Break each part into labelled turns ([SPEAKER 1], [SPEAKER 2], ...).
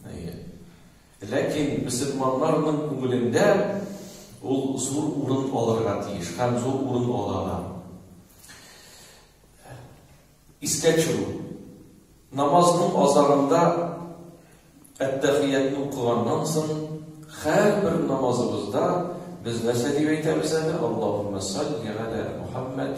[SPEAKER 1] Әйе. Ләкин мөселманнарның күңелендә ул зур урын алырга тиеш һәм зур урын ала да. Искә төшерү. Намазның азагында әттәхиятны укыганнан соң һәрбер намазыбызда без нәрсә дип әйтәбез әле? Аллаһумма салли ала Мухаммад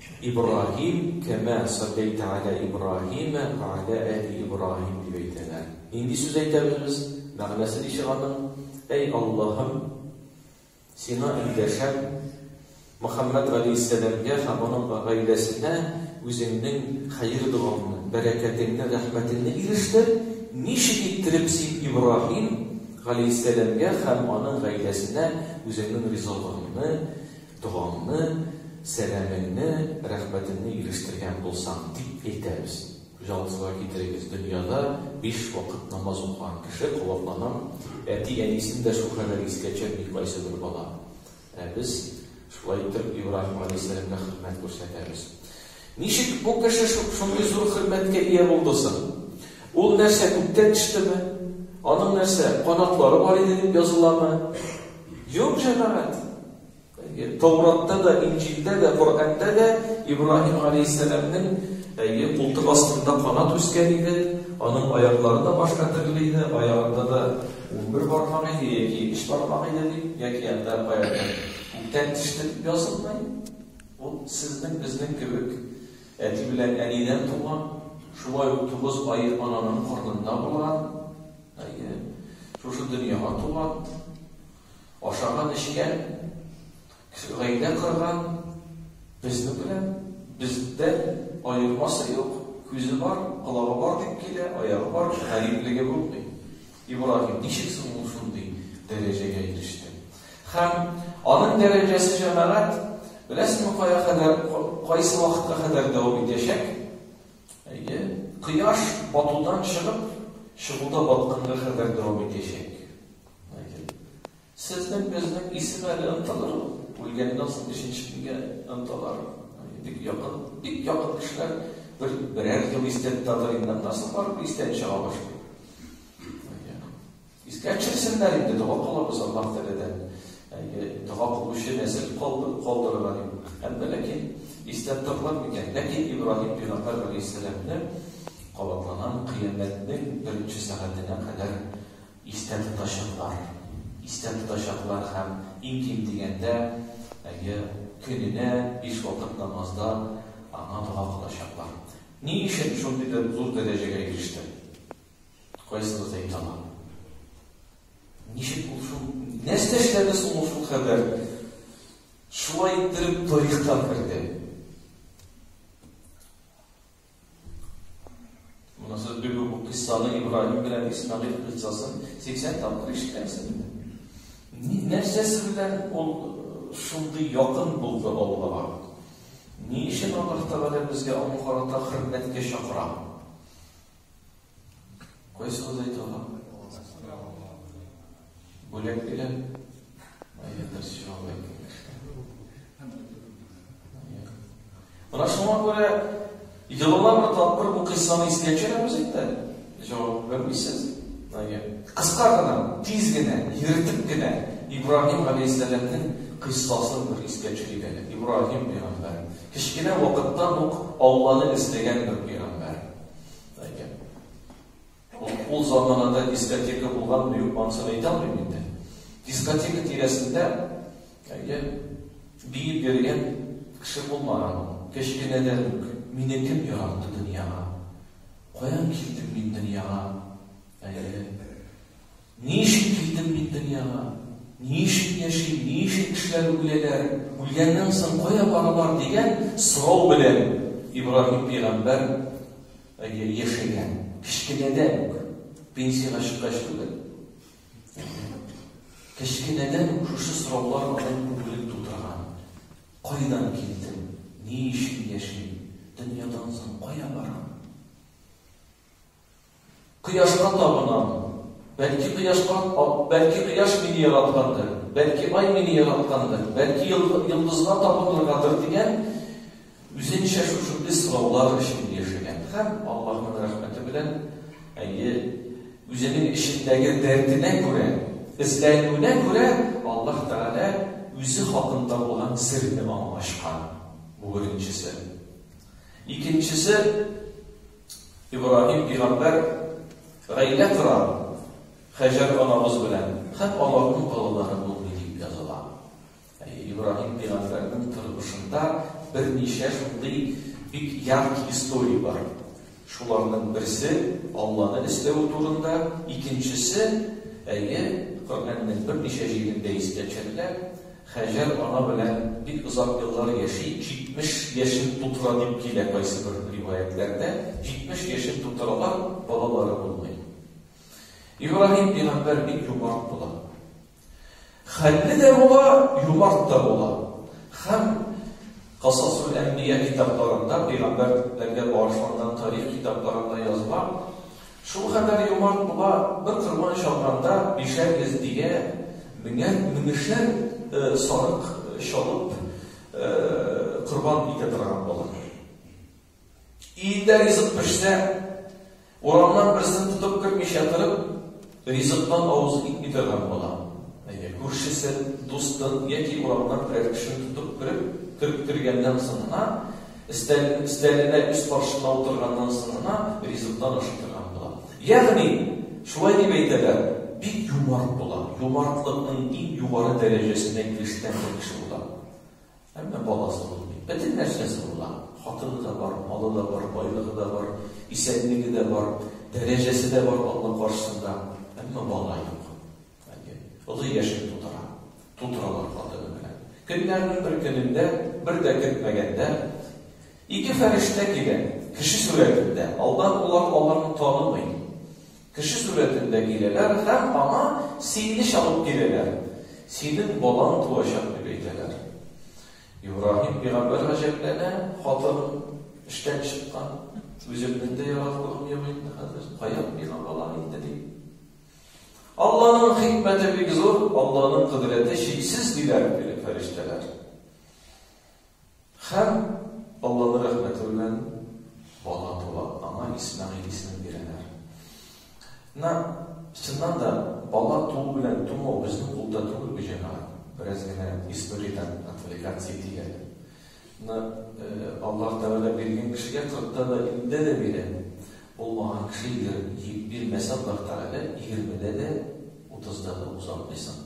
[SPEAKER 1] Ибраһим, кәмә салләйтә галә Ибраһимә вә галә әли Ибраһим, дип әйтәләр. Нинди сүз әйтәбез без? Мәгънәсе ничек аның? Әй Аллаһым, Сиңа эндәшәм, Мөхәммәд галәйһиссәламгә һәм аның гаиләсенә Үзеңнең хәер-догаңны, бәрәкәтеңне, рәхмәтеңне ирештер, ничек иттереп Син Ибраһим галәйһиссәламгә һәм аның гаиләсенә Үзеңнең ризалыгыңны, Догаңны, сәламеңне, рәхмәтеңне ирештергән булсаң, дип әйтәбез. Күз авызга китерегез, дөньяда биш вакыт намаз укыган кеше кабатланам, әти-әнисен дә шул кадәр искә төшерми кайсы бер бала. Ә без шулай итеп Ибраһим галәйһиссәламгә хөрмәт күрсәтәбез. Ничек бу кеше шундый зур хөрмәткә ия булды соң? Ул нәрсә, күктән төштеме? Аның нәрсә, канатлары бар иде дип языламы? Юк, җәмәгать. Тауратта да, Инҗилдә дә, Коръәндә дә Ибраһим галәйһиссәламнең әйе култык астында канат үскән иде, аның аяклары да башка төрле иде, аягында да унбер бармак иде яки өч бармак иде дип, яки анда каядыр күктән төште дип язылмый. Ул сезнең безнең кебек әти белән әнидән туган, шулай ук тугыз ай ананың карнында булган, әйе, шушы дөньяга туган. Ашаган-эчкән, гаилә корган, безнең белән, бездән аермасы юк, күзе бар, колагы бар дип килә, аягы бар, гариплеге булмый. Ибраһим ничек соң ул шундый дәрәҗәгә иреште? Һәм аның дәрәҗәсе җәмәгать, беләсеңме, кая кадәр, кайсы вакытка кадәр дәвам итәчәк? Әйе, кояш батудан чыгып, чыгуда батканга кадәр дәвам итәчәк. Сезнең безнең исем әле онтылыр ул. Үлгәннән соң өченче көнгә онтылар. Бик якын, бик якын кешеләр бер берәр ел истән тотар инде, аннан соң барып истән чыга башлый. Искә төшерсеннәр инде, дога кылабыз Аллаһ Тәгаләдән. Әйе, дога кылучы нәсел калдырырга дип. Һәм ләкин истән тотылар микән? Ләкин Ибраһим пәйгамбәр галәйһиссәламне кабатланам кыямәтнең беренче сәгатенә кадәр Истә тотачаклар. Истә тотачаклар һәм иң ким дигәндә, әйе, көненә биш вакыт намазда аңа дога кылачаклар. Ни өчен шундый бер зур дәрәҗәгә иреште? Кайсыгыз әйтә ала? Ничек ул шул, нәрсә эшләде соң ул шул кадәр? Шулай иттереп тарихка керде. Монысы бик бу кыссаны Ибраһим белән Исмагыйль кыссасын 80 тапкыр ишеткәнсең. Нәрсәсе белән ул э, шундый якын булды Аллага? Ни өчен Аллаһ Тәгалә безгә аңа карата хөрмәткә чакыра? Кайсы алай тагы? Бүләк бирә. Әйдәдер сиңа Менә шуңа күрә елына бер тапкыр бу кыйссаны искә төшерәбез инде. Җавап бирмисез. Әйе. Кыска гына, тиз генә, йөртеп генә Ибраһим галәйһиссәламның кыйссасын бер искә төшерик әле. Ибраһим пәйгамбәр. Кечкенә вакыттан ук Алланы эзләгән бер пәйгамбәр. Әйе. Ул заманада дискотека булганмы, юкмы, ансын әйтә алмыйм инде. Дискотека тирәсендә, әйе, биеп йөргән кеше булмаган. Кечкенәдән үк мине кем яратты дөньяга? Каян килдем мин дөньяга? Әйе. Ни өчен килдем мин дөньяга? Ни өчен яшим? Ни өчен кешеләр үләләр? Үлгәннән соң кая баралар? дигән сорау белән Ибраһим пәйгамбәр яшәгән. Кечкенәдән үк, пенсиягә чыккач түгел. Кечкенәдән үк шушы сораулар аның күңелен тутырган. Кайдан килдем? Ни өчен яшим? Дөньядан соң кая барам? Кояшка табынам. Бәлки кояшка, бәлки кояш мине яраткандыр, бәлки ай мине яраткандыр, бәлки йолдызга табыныргадыр дигән үзенчә шушындый сораулар өчен яшәгән һәм Аллаһның рәхмәте белән әйе үзенең эчендәге дәртенә күрә, эзләнүенә күрә Аллаһ Тәгалә үзе хакында булган серне аңа ачкан. Бу беренчесе. Икенчесе Ибраһим пигамбәр гаилә кора Хаҗәр анабыз белән һәм аларның балалары булды дип языла. Ибраһим пигамбәрнең тормышында берничә шундый бик яркий история бар. Шуларның берсе Алланы эзләве турында, икенчесе, әйе, Коръәннең берничә җирендә искә төшерелә, Һаҗәр ана белән бик озак еллар яши, 70 яшен тутыра дип килә кайсыбер риваятьләрдә, 70 яшен тутыралар, балалары булмый. Ибраһим пигамбәр бик юмарт була. Хәлле дә була, юмарт та була. Һәм Касасул әмбия китапларында, пигамбәрләргә багышланган тарих китапларында языла, Шул кадәр юмарт була, бер корбан чалганда бишәр йөз тиә, меңәр, меңешәр сарык чалып корбан итә торган була. Өендә ризык пешсә, урамнан берсен тотып кермичә торып, ризыктан авызы китми торган була. Әйе, күршесен, дустын яки урамнан берәр кешене тотып кереп, кереп кергәннән соң гына, Өстәл, өстәленә үз каршына утырганнан соң гына ризыктан ашый торган була. Ягъни, шулай дип әйтәләр, бик юмарт була. Юмартлыкның иң югары дәрәҗәсенә ирешкән бер кеше була. Әмма баласы булмый. Бөтен нәрсәсе була. Хатыны да бар, малы да бар, байлыгы да бар, исәнлеге дә бар, дәрәҗәсе дә бар Алла каршысында. Әмма бала юк. Олы яшен тутыра. Тутыралар хатыны белән. Көннәрнең бер көнендә, бер дә көтмәгәндә, ике фәрештә килә, кеше сурәтендә. Алдан улар аларны танымый. Кеше сурәтендә киләләр һәм аңа сине чалып киләләр. Синең балаң туачак дип әйтәләр. Ибраһим пигамбәр гаҗәпләнә, хатын эштән чыккан, үземнең дә яратканым юк инде хәзер, каян миңа бала инде дип. Алланың хикмәте бик зур, Алланың кодрәте чиксез диләр бирек фәрештәләр. Хәм Алланың рәхмәте белән бала тула, аңа Исмәгыйль исемен бирәләр. На чыннан да бала туу белән тумау безнең кулда түгел бу җәмәгать. Бераз генә историядән отвлекаться итик әле. Ны Аллаһ Тәгалә биргән кешегә кырыкта да, илледә дә бирә. Булмаган кеше егер бирмәсә Аллаһ Тәгалә, егермедә дә, утызда да узалмыйсың.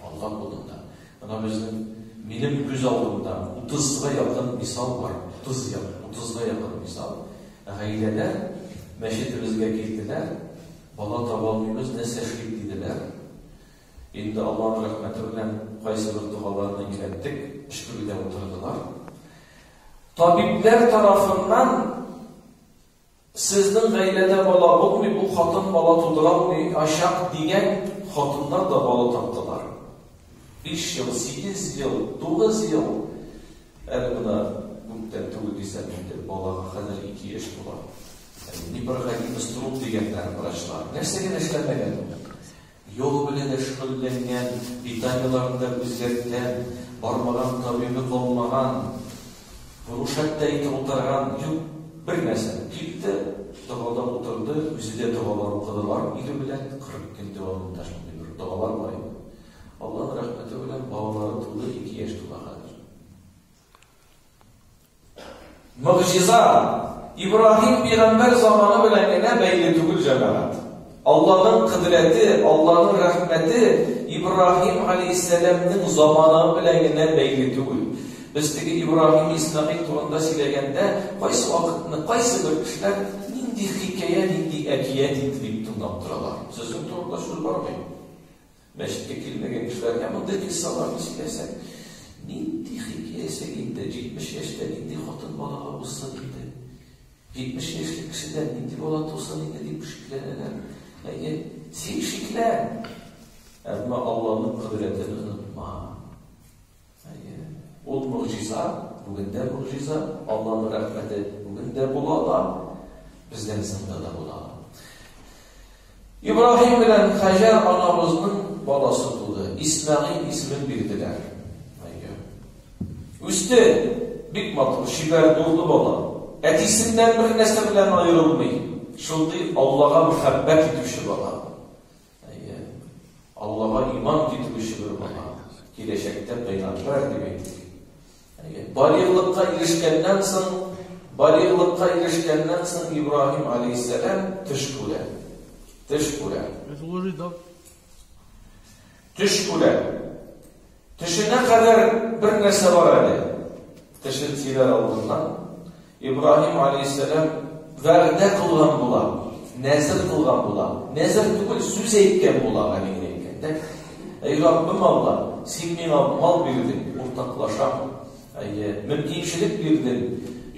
[SPEAKER 1] Аллаһ алдында. Менә безнең, минем күз алдымда утызга якын мисал бар. Утыз як, утызга якын мисал. Гаиләләр мәчетебезгә килделәр, бала таба алмыйбыз, нәрсә эшлик диделәр. Инде Аллаһның рәхмәте белән кайсыбер догаларны өйрәттек, өшкерүдә утырдылар. Табибләр тарафыннан сезнең гаиләдә бала булмый, бу хатын бала тудыра алмый, ашак дигән хатыннар да бала таптылар. 5 ел, 8 ел, 9 ел әле мына күптән түгел дисәм инде балага хәзер 2 яшь була. Непроходимость труб дигәннәр врачлар. Нәрсә генә эшләмәгән. Юл белән дә шөгыльләнгән, питаниеләрен дә үзгәрткән, бармаган табибы калмаган, курушәттә инде утырган юк, бер нәрсә, килде, догада утырды, үзе дә догалар укыдылар ире белән, 40 көн дәвамында шундый бер догалар бар иде. Алланың рәхмәте белән балалары туды, ике яшь тула хәзер. Мөгъҗиза Ибраһим пигамбәр заманы белән генә бәйле түгел җәмәгать. Аллаһның кыдрәте, Аллаһның рәхмәте Ибраһим алейһиссәламның заманы белән генә бәйле түгел. Без теге Ибраһим Исмәгыйль турында сөйләгәндә, кайсы вакытны, кайсы бер кешеләр нинди хикәя, нинди әкият инде дип тыңлап торалар. Сезнең турында сүз бармый. Мәчеткә килмәгән кешеләр һәм анда килсаларны сөйләсәң, нинди хикәясең инде, җитмеш яшьтә нинди хатын балага узсын инде? Җитмеш яшьлек кешедән нинди бала тусын инде, дип шикләнәләр. Әйе, син шиклән, әмма Алланың кодрәтен онытма. Әйе. Ул могҗиза, бүген дә могҗиза. Алланың рәхмәте бүген дә була ала, безнең сында да була ала. Ибраһим белән Хаҗар анабызның баласы туды. Исмәгыйль исемен бирделәр. Әйе. Үсте. Бик матур, чибәр, дурлы бала. Әтисеннән бер нәрсә белән аерылмый. Шундый Аллага мәхәббәт итүче бала. Әйе. Аллага иман китерүче бер бала киләчәктә пәйгамбәр дип әйтик. Әйе. Балигълыкка ирешкәннән соң, балигълыкка ирешкәннән соң Ибраһим алейһиссәлам төш күрә. Төш күрә. Төш күрә. Төшенә кадәр бер нәрсә бар әле. Төшен сөйләр алдыннан Ибраһим алейһиссәлам вәгъдә кылган була, нәзер кылган була. Нәзер түгел, сүз әйткән була, гамин әйткәндә. Әй Раббым Алла, син миңа мал бирдең, уртаклашам. Әйе, мөмкинчелек бирдең.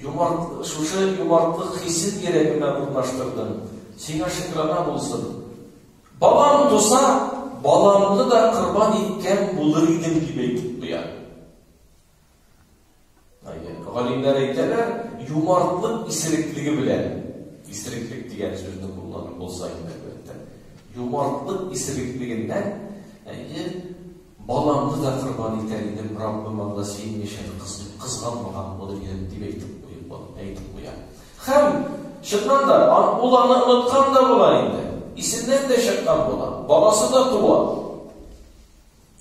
[SPEAKER 1] Юмарт, шушы юмартлык хисен йөрәгемә урнаштырдың. Сиңа шөкранә булсын. Балам туса, баламны да корбан иткән булыр идем дип әйтеп куя. Галимнәр әйтәләр, юмартлык исереклеге белән, исереклек дигән сүзне кулланып булса инде, әлбәттә, юмартлык исереклегеннән, әйе, Баламны да корбан итәр идем, Раббым анда син яшәде кыз дип кызганмаган булыр идем, дип әйтеп куеп әйтеп куя. Һәм, чыннан да, ул аны оныткан да була инде. Исеннән дә чыккан була. Баласы да туа.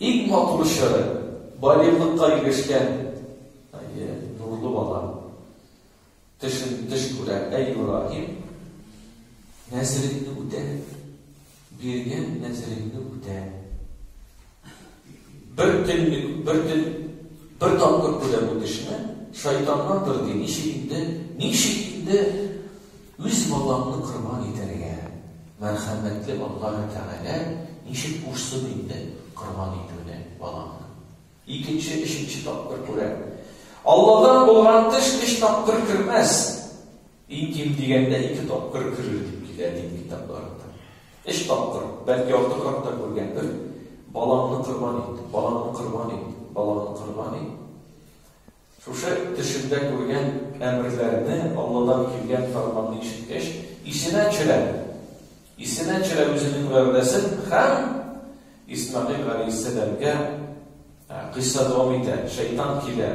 [SPEAKER 1] Иң матур чоры, балигълыкка ирешкән, әйе, нурлы бала. Тешен теш күрә, әй Ибраһим, нәзереңне үтә, биргән нәзереңне үтә. Бер төнлек, бер төн, бер тапкыр күрә бу тешне, шайтаннандыр ди, ничек инде, ничек инде үз балаңны корбан итәргә? Мәрхәмәтле Аллаһ Тәгалә ничек кушсын инде корбан итүне балаңны? Икенче, өченче тапкыр күрә. Алладан булган эш өч тапкыр кермәс. Иң ким дигәндә ике тапкыр керер дип килә дин китапларында. Өч тапкыр, бәлки алты хакта күргән бер балаңны корбан ит, балаңны корбан ит, балаңны корбан ит. Шушы төшендә күргән әмерләрне, Алладан килгән фәрманны ишеткәч, исенә төшерә. Исенә төшерә үзенең вәгъдәсен һәм Исмәгыйль галәйһиссәламгә кыйсса дәвам итә. Шәйтан килә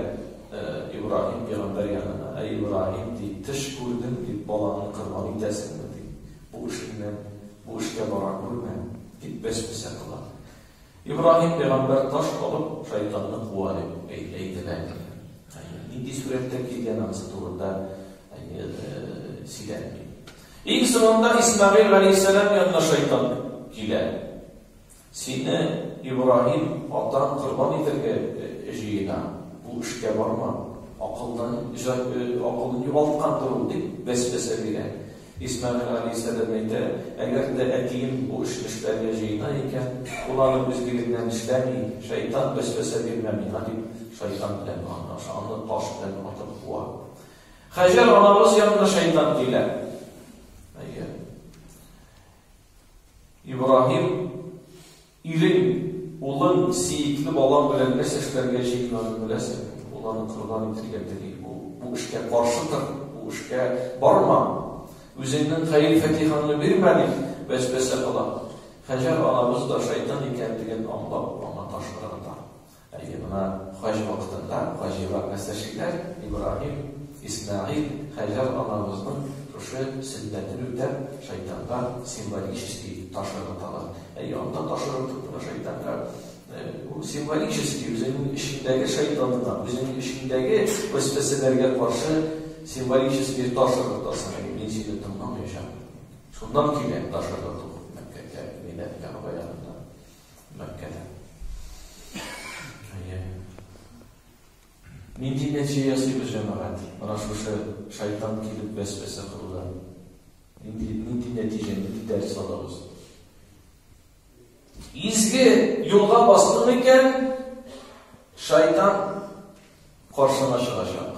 [SPEAKER 1] Ибраһим пәйгамбәр янына. Әй Ибраһим, ди, төш күрдем, дип, балаңны корбан итәсеңме, ди. Бу эшеңнән, бу эшкә бара күрмә, дип, вәсвәсә кыла. Ибраһим пәйгамбәр таш алып, шайтанны куа, дип әйтелә икән. Әйе, нинди сурәттә килгән анысы турында сөйләнми. Иң соңында Исмагыйль галәйһиссәлам янына шайтан килә. Сине Ибраһим атаң корбан итәргә җыена. Бу эшкә барма. Акылдан акылын югалткандыр ул, дип вәсвәсә бирә. Исмәгыйль абый сәбәп әйтә, Әгәр дә әтием бу эшне эшләргә җыена икән, ул аны үзлегеннән эшләми, шәйтан вәсвәсә бирмә миңа, дип, шайтан белән аңлаша, аны таш белән атып куа. Хаҗәр анабыз янына шайтан килә. Әйе. Ибраһим Ирең, улың, сиекле балаң белән нәрсә эшләргә җыенганын беләсеңме? Ул аны корбан итәргә тели. Ул бу эшкә каршы тор, бу эшкә барма. Үзеңнең хәер-фатихаңны бирмә, дип вәсвәсә кыла. Хаҗәр анабыз да шайтан икәнлеген аңлап, аңа таш ыргыта. Әйе, менә хаҗ вакытында хаҗига мәстерчекләр Ибраһим, Исмәгыйль, Хаҗәр анабызның шушы сөннәтен үтәп, шайтанга символический таш ыргыталар. Әйе, анда таш ыргытып кына шайтанга бу символический үзенең эчендәге шайтанына, үзенең эчендәге вәсвәсәләргә каршы символический таш ыргытасың. Әйе, мин сине тыңламаячакмын. Шуннан килә таш ыргыту. Бәркәлә. Әйе. Нинди нәтиҗә ясый бу җәмәгать? Менә шушы шайтан килеп бәс-бәсә кылуда. Нинди нинди нәтиҗә, нинди дәрс алабыз? Изге юлга бастың икән, шайтан каршына чыгачак.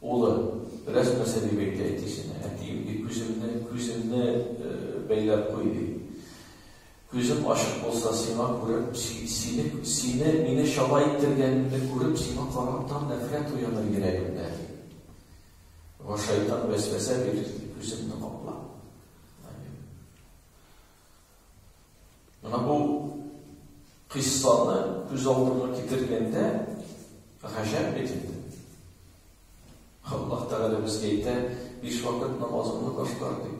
[SPEAKER 1] Улы, Бераз нәрсә дип әйтә әтисенә. Әтием, ди, күземне, күземне бәйләп куй, ди. Күзем ачык булса, сиңа күреп, сине, сине, мине чала иттергәнемне күреп, сиңа карап тар нәфрәт уяныр йөрәгемдә, ди. Вә шайтан вәсвәсә бирер, ди, күземне капла. Менә бу кыйссаны күз алдына китергәндә, гаҗәп бит инде. Аллаһ Тәгалә безгә әйтә, биш вакыт намазыңны башкар ди.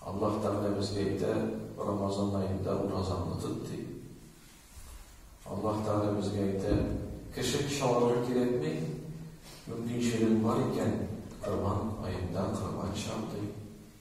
[SPEAKER 1] Аллаһ Тәгалә безгә әйтә, Рамазан аенда уразаңны тот ди. Аллаһ Тәгалә безгә әйтә, кеше чаларга кирәкми, мөмкинчелең бар икән, Корбан аенда корбан чал ди.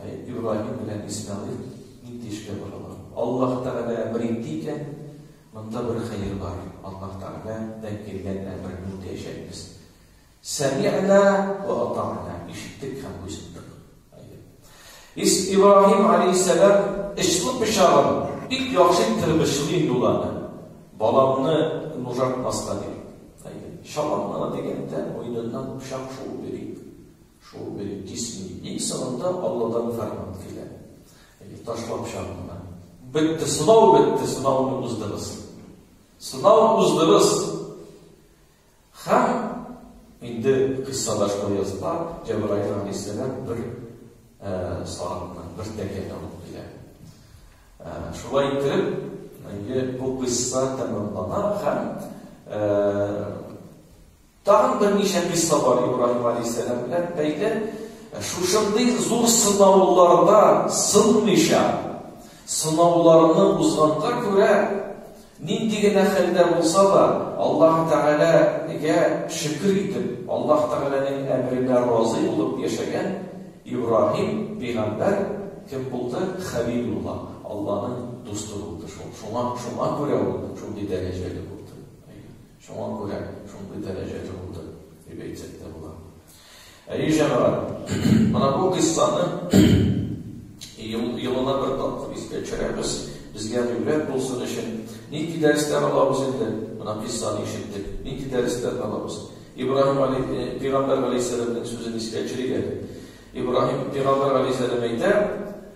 [SPEAKER 1] Әй, Ибраһим белән Исмәгыйль нинди эшкә баралар? Аллаһ Тәгалә әмер итте икән, монда бер хәер бар. Аллаһ Тәгалә дән килгән әмерне үтәячәкбез. Сәми'на ва ата'на. Ишеттек һәм буйсындык. Ис Ибраһим алейһиссәлам эшле пычагын бик яхшы тырбышлый инде ул аны. Баламны нужатмаска дип. Шаланна дигәндә, муеныннан пычак шуып йөри. Шул бер кисми. Иң соңында Алладан фәрман килә. Әйе, ташлап чагында. Бетте, сынау бетте, сынауны уздырыз. Сынау уздырыз. Һәм инде кыссада шулай языла, Җәбраил алейһиссәлам бер э, сагатны, бер тәкәне алып килә. Э, шулай итеп, Әйе, бу кыйсса тәмамлана һәм э, Тагын берничә кыйсса бар Ибраһим галәйһиссәлам белән бәйле. Шушындый зур сынауларда сынмыйча, сынауларны узганга күрә, нинди генә хәлдә булса да, Аллаһы Тәгаләгә шөкер итеп, Аллаһ Тәгаләнең әмеренә разый булып яшәгән Ибраһим пәйгамбәр кем булды? Хәлилулла, Алланың дусты булды шул. Шуңа, шуңа күрә ул шундый дәрәҗәле булды. Шуңа күрә шундый дәрәҗәдә булды, дип әйтсәк тә була. Әйе, җәмәгать, менә бу кыйссаны елына бер тапкыр искә төшерәбез. Безгә гыйбрәт булсын өчен нинди дәрестән алабыз инде? Менә кыйссаны ишеттек. Нинди дәрестән алабыз? Ибраһим али, э, пигамбер алейхиссәламның сүзен искә төшерик әле. Ибраһим пигамбер алейхиссәлам әйтә,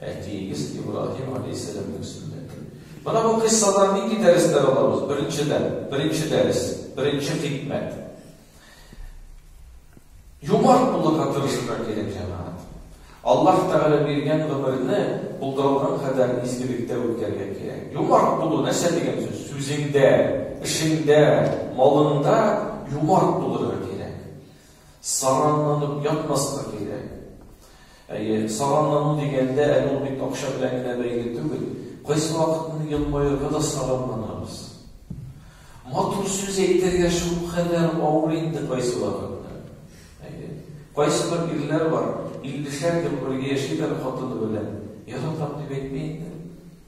[SPEAKER 1] Әтиегез Ибраһим алейһиссәламнең сөннәте. Менә бу кыйссадан нинди дәресләр алабыз? Беренчедән, беренче дәрес, беренче хикмәт. Юмарт булырга тырышырга кирәк, җәмәгать. Аллаһ Тәгалә биргән гомерне булдырылган кадәр изгелектә үткәрергә кирәк. Юмарт булу нәрсә дигән сүз? Сүзеңдә, эшеңдә, малыңда юмарт булырга кирәк. Саранланып ятмаска кирәк. Әйе, саранлану дигәндә, әле ул бит акча белән генә бәйле түгел. Кайсы вакытны елмаерга да саранланабыз. Матур сүз әйтергә шул кадәр авыр инде кайсы вакытта. Әйе. Кайсы бер ирләр бар, 50 шәр ел бергә яшиләр хатыны белән. Яратам дип әйтми инде.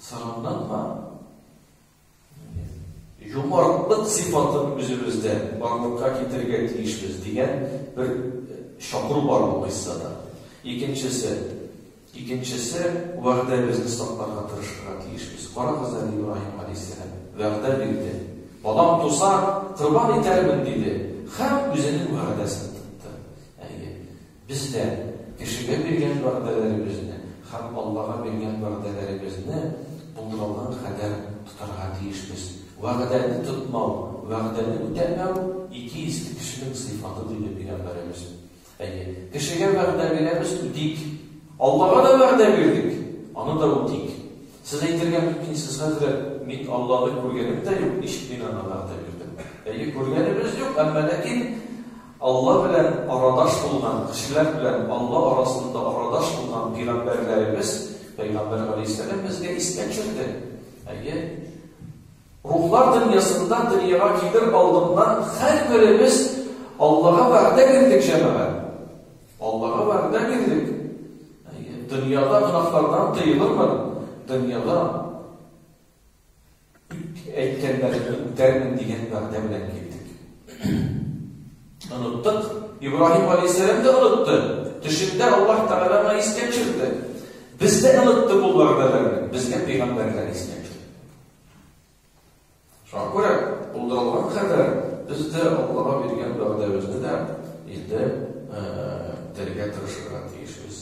[SPEAKER 1] Сагындан бар. Юмартлык сыйфатын үзебездә барлыкка китерергә тиешбез дигән бер э, чакыру бар бу кыйссада. Икенчесе, икенчесе вәгъдәбезне сакларга тырышырга тиешбез. Карагыз әле Ибраһим алейһиссәлам вәгъдә бирде. Балам туса, корбан итәрмен диде. Һәм үзенең вәгъдәсен тотты. Әйе. Без дә кешегә биргән вәгъдәләребезне һәм Аллага биргән вәгъдәләребезне булдырылган кадәр тотарга тиешбез. Вәгъдәне тотмау, вәгъдәне үтәмәү, ике исле кешенең сыйфаты, диде Пәйгамбәребез. Әйе, кешегә вәгъдә бирәбез, үтик. Аллага да вәгъдә бирдек, аны да үтик. Сез әйтергә мөмкинсез, хәзрәт, мин Алланы күргәнем дә юк, ничек мин аңа вәгъдә бирдем? Әйе, күргәнебез юк, әмма ләкин, Алла белән арадаш булган, кешеләр белән Алла арасында арадаш булган пигамбәрләребез, пәйгамбәр галәйһиссәлам безгә истә төшерде. Әйе. Рухлар дөньясында дөньяга килер алдыннан һәрберебез Аллага вәгъдә бирдек җәмәгать. Аллага вәгъдә бирдек. Әйе, дөньяда гынафлардан тыелырмын, дөньяда Әйткәннәрне үтәрмен дигән вәгъдә белән килдек. Оныттык. Ибраһим галәйһиссәлам да онытты. Төшендә Аллаһ Тәгалә аны искә төшерде. Без дә онытты бу вәгъдәләрне. Безгә пәйгамбәрләр искә төшерде. Шуңа күрә булдырылган кадәр без дә Аллаһка биргән вәгъдәбезне дә инде үтәргә тырышырга тиешбез.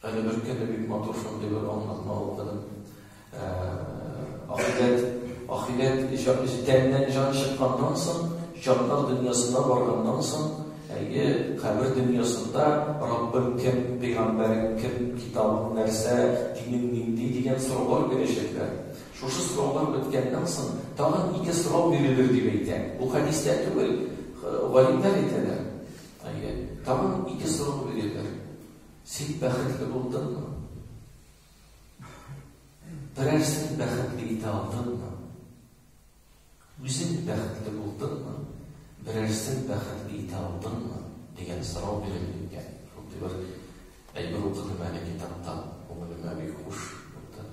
[SPEAKER 1] Әле бер көнне бик матур шундый бер аңлатма укыдым. Ә, ахирет, ахирет җитәгеннән җан чыкканнан соң, җаннар дөньясына барганнан соң, әйе, кабер дөньясында Раббым кем, пәйгамбәрең кем, китабың нәрсә, динең нинди дигән сораулар бирәчәкләр. Шушы сораулар беткәннән соң, тагын ике сорау бирелер дип әйтә. Бу хәдистә түгел, галимнәр әйтәләр. Әйе, тагын ике сорау бирелер. Син бәхетле булдыңмы? Берәрсен бәхетле итә алдыңмы? Үзең бәхетле булдыңмы? Берәрсен бәхетле итә алдыңмы? дигән сорау бирелгән. Шундый бер әйбер укыдым әле китаптан, күңелемә бик хуш булды.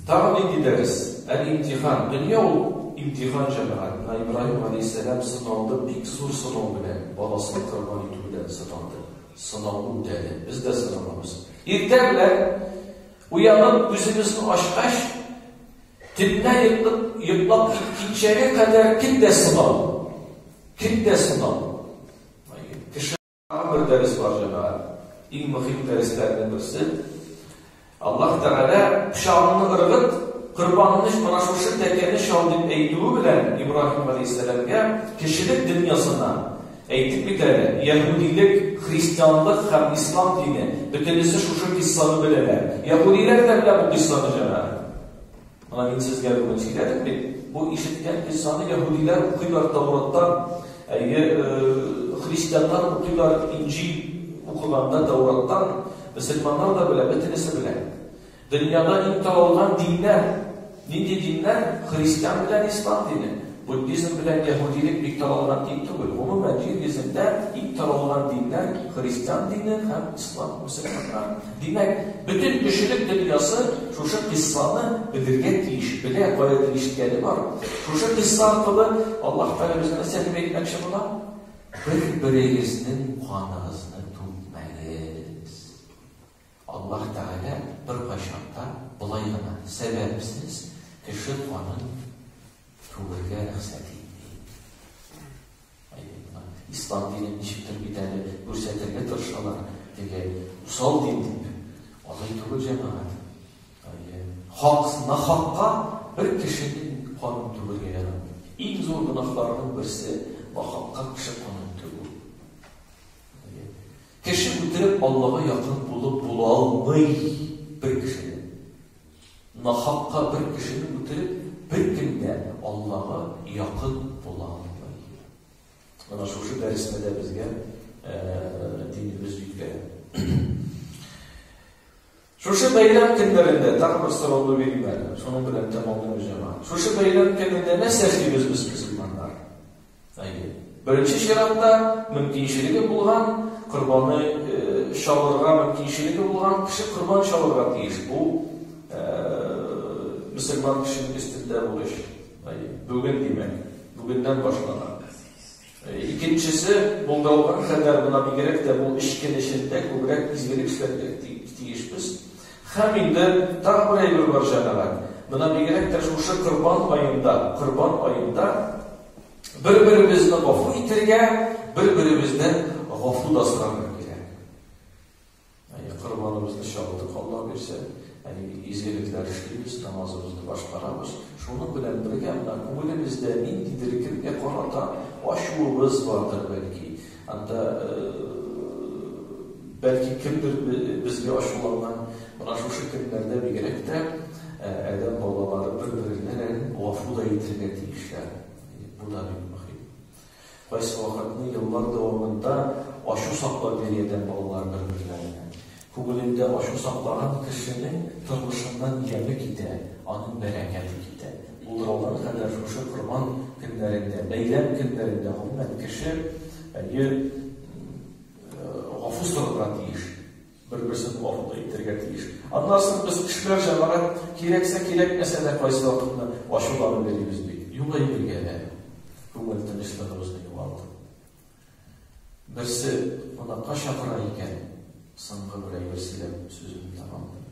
[SPEAKER 1] Тагы нинди дәрес? Әл-имтихан. Дөнья ул имтихан җәмәгать. Менә Ибраһим галәйһиссәлам сыналды, бик зур сынау белән, баласын корбан итү белән сыналды. Сынау үтәде. Без дә сыналабыз. Иртә белән уянып күзебезне ачкач, төнлә йоклап киткәнчәгә кадәр кем дә сынау. Кем дә сынау. Тагы бер дәрес бар, җәмәгать. Иң мөһим дәресләрнең берсе. Аллаһ Тәгалә пычагыңны ыргыт, корбанны менә шушы тәкәне чал дип әйтүе белән Ибраһим галәйһиссәламгә кешелек дөньясына әйтеп бит әле, яһүдилек, христианлык һәм ислам дине бөтенесе шушы киссаны беләләр. Яһүдиләр дә белә бу киссаны җәмәгать. Аны мин сезгә бүген сөйләдем бит. Бу ишеткән кыйссаны яһүдиләр укыйлар Тауратта, әйе, христианнар укыйлар Инҗил укыганда Таураттан, мөселманнар да белә, бөтенесе белә. Дөньяда иң таралган диннәр, нинди диннәр? Христиан белән ислам дине. Буддизм белән яһүдилек бик таралган дин түгел. Гомумән, җир йөзендә иң таралган диннәр христиан дине һәм ислам, мөселманнар. Димәк, бөтен кешелек дөньясы шушы кыйссаны белергә тиеш, белә, кая тиештгәне бар. Шушы кыйсса аркылы Аллаһ Тәгалә безгә нәрсә дип әйтмәкче була? Бер-берегезнең каныгызны түкмәгез. Аллаһ Тәгалә беркайчан да болай гына сәбәпсез кеше канын түгергә рөхсәт итми. Ислам динен ничектер бит әле күрсәтергә тырышалар, теге усал дин дип. Алай түгел, җәмәгать. Хак, нахакка бер кешенең канын түгергә ярамый. Иң зур гөнаһларның берсе нахакка кеше канын түгү. Кеше үтереп, Аллага якын булып була алмый бер кеше. Нахакка бер кешене үтереп, беркем дә Аллага якын була алмый. Менә шушы дәресне дә безгә динебез үткәрә. Шушы бәйрәм көннәрендә тагын бер сорауны бирим әле. Шуның белән тәмамлыйм җама. Шушы бәйрәм көнендә нәрсә эшлибез без мөселманнар? Әйе. Беренче чиратта мөмкинчелеге булган корбаны чалырга мөмкинчелеге булган кеше корбан чалырга тиеш. Бу мөселман кешенең өстендә бурыч. Әйе. Бүген димәк, бүгеннән башлана. Икенчесе, булдырылган хәлләр бына бигрәк тә бу эшкә нишелдә күбрәк изгелек эшләргә тиешбез. Һәм инде тагы бер әйбер бар, җәмәгать, менә бигрәк тә шушы Корбан аенда, Корбан аенда бер-беребезне гафу итәргә, бер-беребезнен гафу да сорарга кирәк. Әйе, корбаныбызны чалдык, Алла бирсә, әйе, изгелекләр эшлибез, намазыбызны башкарабыз. Шуның белән бергә, менә күңелебездә ниндидер кемгә карата ачуыбыз бардыр, бәлки, Анда, бәлки, кемдер безгә ачуланган, менә шушы көннәрдә бигрәк тә адәм балалары бер-беренә гафу да итәргә тиешләр. Бу да бик мөһим. Кайсы вакытны еллар дәвамында ачу саклап йөри адәм балалары бер-берләренә. Күңелендә ачу саклаган кешенең тормышыннан яме китә, аның бәрәкәте китә. Ул Рамазан кадәр шушы корбан көннәрендә, бәйрәм көннәрендә, гомумән, кеше, әйе, гафу сорарга тиеш, бер-берсен гафу да итәргә тиеш. Аннан соң без кешеләр, җәмәгать, кирәксә, кирәкмәсә дә кайсы вакытны ачуланып йөрибез бит. Юк әйбергә дә, күңел тынычлыгыбызны югалтып. Берсе кунакка чакыра икән, соңгы бер әйбер сөйләп сүземне тәмамлыйм.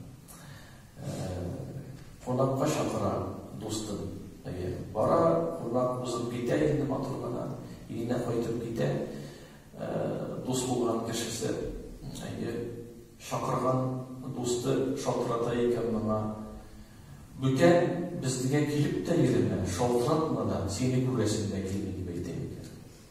[SPEAKER 1] Кунакка чакыра дустым. Әйе, бара, кунак узып китә инде матур гына, өенә кайтып китә. Дус булган кешесе, әйе, чакырган дусты шалтырата икән моңа. Бүтән безгә килеп тә йөрмә, шалтыратма да, сине күрәсем дә килми.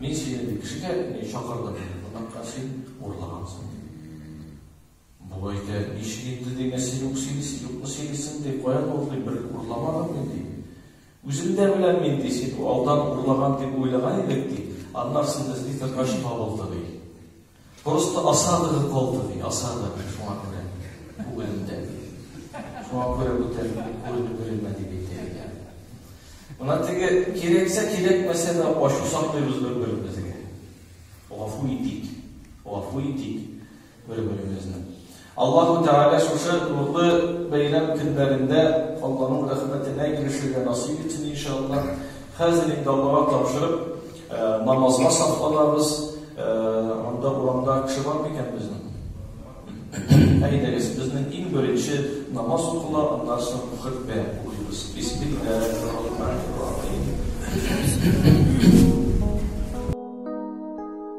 [SPEAKER 1] Мин сине ди кешегә ни чакырдым, кунакка син урлагансың. Бу әйтә, ничек инде ди, менә син үк сөйлисең, юкмы сөйлисең ди, каян ул ди, бер урламадым мин ди. Үзем дә беләм мин ди, син алдан урлаган дип уйлаган идек ди, аннарсын эзли торгач табылды ди. Просто осадага калды, ди, осада шуңа күрә күңелендә. Шуңа күрә бүтән күренеп бирелмә дип әйтә. Мына теге кирәксә кирәкмәсә дә ачу саклыйбыз бер-беребезгә. Гафу итик, гафу итик бер-беребезне. Аллаһу Тәгалә шушы нурлы бәйрәм көннәрендә Алланың рәхмәтенә ирешергә насыйп итсен, иншааллаһ. Хәзер инде Аллага тапшырып, намазга сафланабыз. Анда урамда кеше бар микән безнең? Әйдәгез, безнең иң беренче намаз укыла, аннан соң хөтбә укыйбыз. Бисмиллаһир-рахманир-рахим.